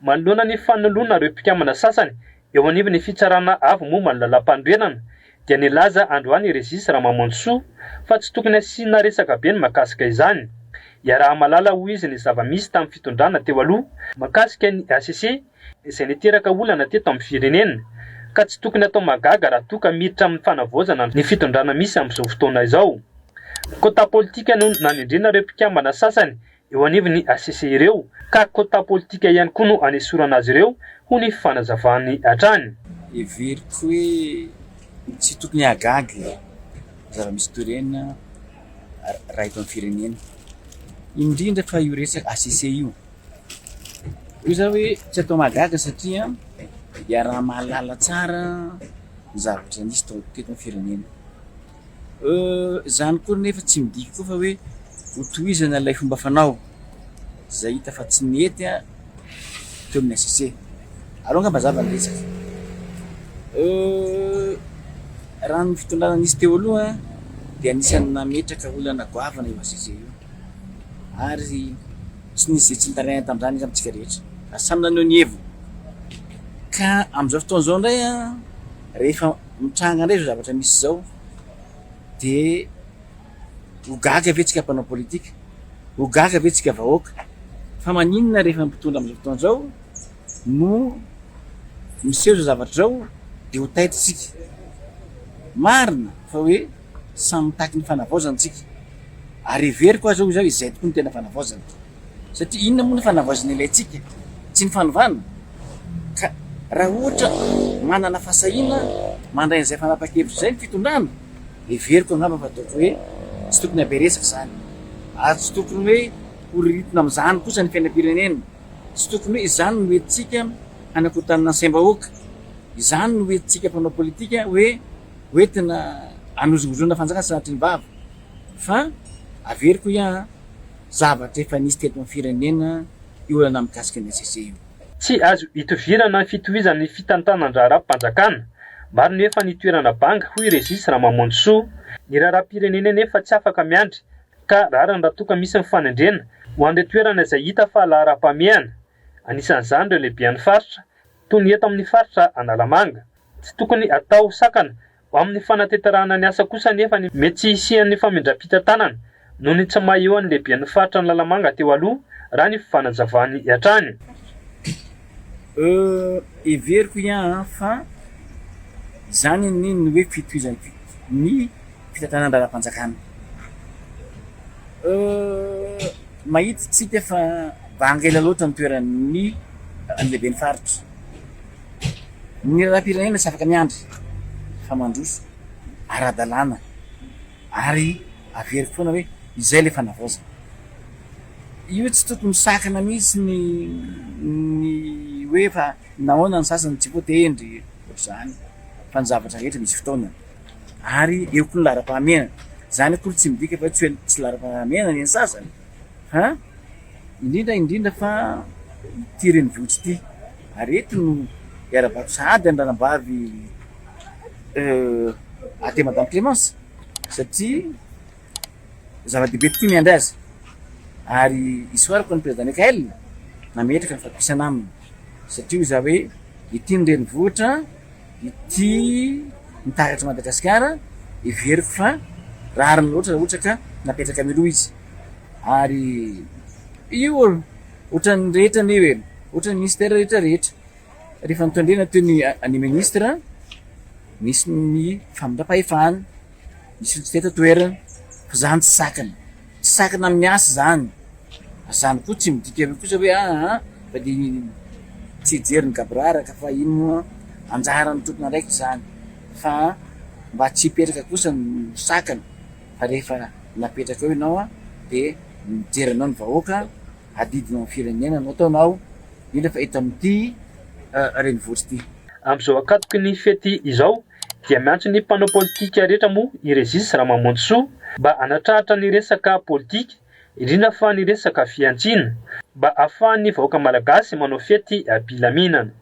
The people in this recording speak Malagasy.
Manoloana ny fanoloana ireo mpikambana sasany eo anivon'ny fitsarana avo momba ny lalampanorenana dia nilaza androany i Régis Ramamonjisoa fa tsy tokony hasiana resaka be ny mahakasika izany. Iaraha-mahalala hoy izy ny zava-misy tamin'ny fitondrana teo aloha mahakasika ny HCC izay niteraka olana teto amin'ny firenena ka tsy tokony atao mahagaga raha toa ka miditra amin'ny fanavaozana ny fitondrana misy amin'izao fotoana izao. Kôta politika no nanendrena ireo mpikambana sasany eo anivon'ny HCC ireo ka quota politika ihany koa no anesorana azy ireo, hoy ny fanazavany hatrany. Heveriko hoe tsy tokony hahagaga ny zava-misy toy ireny raha eto amin'ny firenena, indrindra fa io resaka HCC io. Hoy za hoe tsy atao mahagaga satria iaraha-mahalala tsara ny zavatra misy teto amin'ny firenena. Euh, zany koa nefa tsy midika koa fa hoe ho tohizana ilay fomba fanao zay hita fa tsy nety an teo amin'ny HCC. Aleo angamba zava ny resaka. Euh, raha ny fitondrana nisy teo aloha dia anisan'ny nametraka olana goavana io HCC io. Ary tsy nisy izay tsy nitarihana tamin'izany izy amintsika rehetra. Fa samy naneho ny heviny. Ka amin'izao fotoana izao indray an, rehefa Mitranga indray izao zavatra misy izao dia ho gaga ve tsika mpanao politika, ho gaga ve tsika vahoaka fa maninona rehefa ny mpitondra amin'izao fotoana izao no miseho izao zavatra izao dia ho taitra isika. Marina fa hoe samy mitaky ny fanavaozana tsika ary heveriko aza hoy izaho izay tokoa no tena fanavaozana. Satria inona moa ny fanavaozana ilay tsiky? Tsy ny fanovana? Ka raha ohatra manana fahasahiana mandray an'izay fanapahan-kevitra izay ny fitondrana, heveriko angamba fa ataoko hoe tsy tokony habe resaka izany. Ary tsy tokony hoe horiritna amin'izany kosa ny fiainam-pirenena. Tsy tokony hoe izany no entintsika hanakorontanana ny saim-bahoaka. Izany no entintsika mpanao politika hoe hoentina hanozongozonana fanjakana tsy nahatry ny vava. Fa averiko hoy aho an! Zavatra efa nisy teto amin'ny firenena io olana mikasika ny HCC io. Tsy azo itovirana ny fitohizan'ny fitantanan-draharaham-panjakana. Maro ny efa nitoerana banga, hoy Régis Ramamonjisoa. Ny raharaham-pirenena anefa tsy afaka miandry ka rariny raha toa ka misy ny fanendrena ho an'ireo toerana izay hita fa laharam-pahamehana. Anisan'izany ireo lehiben'ny faritra, toy ny eto amin'ny faritra Analamanga. Tsy tokony atao sakana Ho amin'ny fanateterahana ny asa kosa anefa ny mety tsy hisian'ny famindram-pitantanana noho ny tsy maha-eo an'ny lehiben'ny faritra ny Lalamanga teo aloha, raha ny fanazavany hatrany. Heveriko ihany fa izany ny ny hoe fitohizan'ny ny fitantanan-draharaham-panjakana. Mahita isika fa banga ela loatra ny toeran'ny lehiben'ny faritra. Ny raharaham-pirenena tsy afaka miandry fa mandroso ara-dalàna ary averiko foana hoe izay ilay fanavaozana. Io tsy tokony misakana mihitsy ny ny hoe fa nahoana ny sasany tsy voatendry ohatr'izany fa ny zavatra rehetra misy fotoanany ary eo koa ny laharam-pahamehana. Izany akory tsy midika fa hoe tsy laharam-pahamehana ny an'ny sasany fa. Indrindra indrindra fa ity renivohitra ity ary eto no iara-bato sahady ny ranabavy aty madame Clémence satria zava-dehibe tokoa ny andry azy ary isoarako ny président Mickaël nametraka ny fatokisana aminy satria hoy za hoe ity ny renivohitra ity ny taratry Madagasikara heveriko fa rariny loatra raha ohatra ka napetraka mialoha izy. ary io ohatran'ny rehetra anie hoe ohatran'ny ministera rehetra rehetra rehefa nitondrena teo ny any ministra nisy ny famindram-pahefana nisy ny tsy teto toerana fa zany tsy sakana tsy sakana amin'ny asa zany zany koa tsy midika hoe kosa hoe aa ah, ah, fa de tsy hijery ny gaboraraka fa iny moa anjaran'ny tompon'andraikitra zany fa mba tsy hipetraka kosa ny sakana Fa rehefa napetraka eo ianao dia mijery anao ny vahoaka, adidinao ny firenena no ataonao, io nefa eto amin'ity renivohitra ity. Amin'izao ankatoky ny fety izao dia miantso ny mpanao politika rehetra moa i Régis Ramamonjisoa mba hanatrahatra ny resaka politika, indrindra fa ny resaka fihantsiana, mba ahafahan'ny vahoaka malagasy manao fety am-pilaminana.